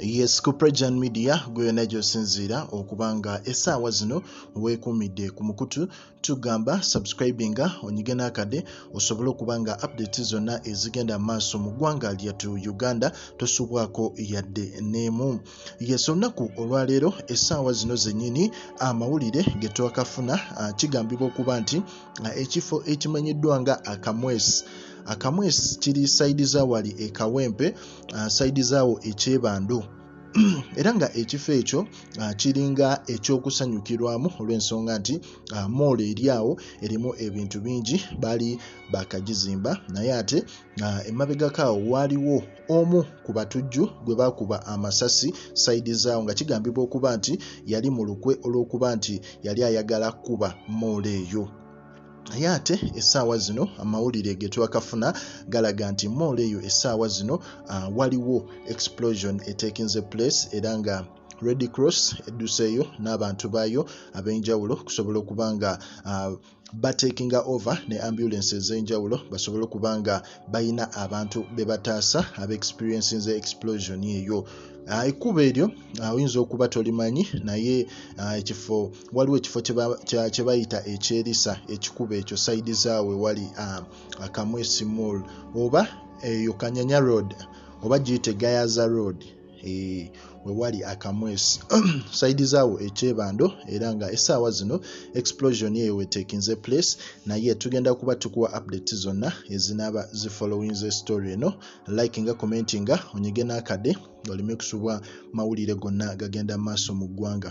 yes ku prejan media gwe yona gyosinziira okuba nga esaawa zino wekumidde ku mukutu tugamba subscribinga onyige n'akade osobole okuba nga update zonna ezigenda maaso mu ggwanga lyatu uganda tosubwako yadde neemu yes olunaku olwaleero esaawa zino zenyini amawulire getwakafuna ah, kigambibwa okuba nti ah, ekifo ekimanyiddwa nga akamwesi akamwesi kiri saidi zawali ekawempe uh, saidi zaawo ekyebando era nga ekifo ekyo uh, kiringa ekyokusanyukirwamu olw'ensonga nti uh, moolo eri awo erimu ebintu bingi baali bakagizimba naye ate uh, emabegako awo waaliwo omu ku batujju gwe baakuba amasasi saidi zaawo nga kigambibwa okuba nti yali mu lukwe olw'okuba nti yali ayagala kuba moolo eyo naye ate essaawa zino amawulire ge twakafuna galaga nti moolo eyo essaawa zino uh, waliwo explosion etekinze place era nga red cross edduseeyo n'abantu baayo ab'enjawulo okusobola okuba nga uh, batekinga over ne ambulance ez'enjawulo basobole okuba nga balina abantu bebataasa aba experience nze explosion eyo ah, ekkuba eryo ah, oyinza okuba tolimanyi naye ah, ekifo waliwo ekifo kyebayita ekyerisa ekikuba ekyo saidi zaawe wali akamwesimol oba eyo kanyanya road oba giyite gayaza road Eh, wewali akamwesi saidi zaawo ekyebando era nga esaawa zino explosion eyo wetekinze place naye tugenda kuba tukuwa update zonna ezinaba zifollowing ze story eno like nga commenti nga onyige nakade oleme kusubwa mawulire gonna gagenda maaso mu ggwanga